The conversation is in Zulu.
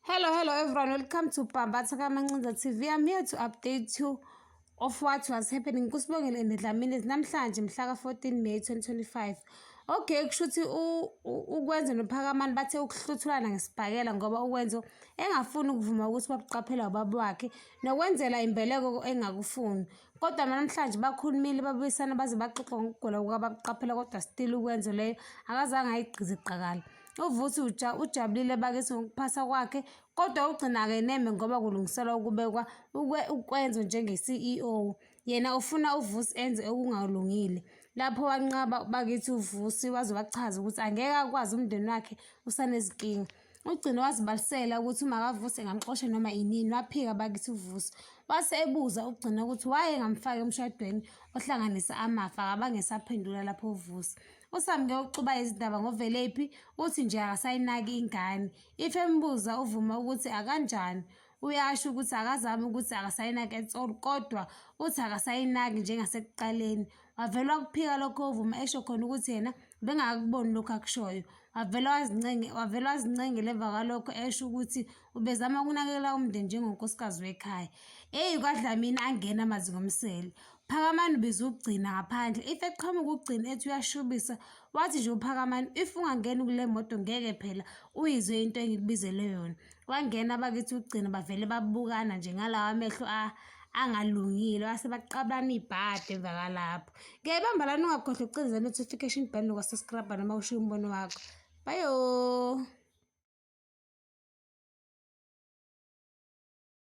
Hello, hello everyone. Welcome to Bambatha Kamancinza TV. I'm here to update you of what was happening kusibongele and Dlamini namhlanje mhla ka-14 May 2025. Okay, kusho ukuthi ukwenze nophakamani bathe ukuhluthulana ngesibhakela ngoba ukwenzo engafuni ukuvuma ukuthi babuqaphela ubaba wakhe nokwenzela imbeleko engakufuni. Kodwa namhlanje bakhulumile babuyisana baze baxoxe ngokugula kukabakuqaphela kodwa still ukwenzo leyo akazange ayigqize iqakala. Uvusi uja ujabulile bakithi ngokuphasa kwakhe kodwa ugcina akeneme ngoba kulungiselwa ukubekwa ukwe ukwenzo njenge-CEO. Yena ufuna uvusi enze okungalungile. Lapho wanqaba bakithi uvusi waze wachaza ukuthi angeke akwazi umndeni wakhe usanezinkinga. Ugcine wazibalisela ukuthi uma kavuse ngamxoshe noma inini waphika bakithi uvuso. Wase ebuza ugcina ukuthi waye ngamfaka emshadweni ohlanganisa amafa akabange saphendula lapho uvusa. USamke uxuba izindaba ngovelephi uthi nje akasayinaki ingane. If embuza uvuma ukuthi akanjani. uyasho ukuthi akazami ukuthi akasayinaki at all kodwa uthi akasayinaki njengasekuqaleni wavele wakuphika lokho ovuma esho khona ukuthi yena bengakakuboni lokhu akushoyo wavele wazincenge wavele wazincengela emva kwalokho esho ukuthi ubezama ukunakekela umndeni njengonkosikazi wekhaya eyi kwadlamini angena amazi ngomsele phakamani ubiza ukugcina ngaphandle if eqhamuka ukugcina ethi uyashubisa wathi nje uphakamani if ungangeni kule moto ngeke phela uyizwe into engikubizele yona Kwangena abakithi ukugcina bavele babukana nje ngalawa amehlo angalungile base baqabana ibhadi emva kalapho ngiyayibamba lana ungakhohlwa ukucindeza notification button nokwasescribe noma ushiye umbono wakho bayo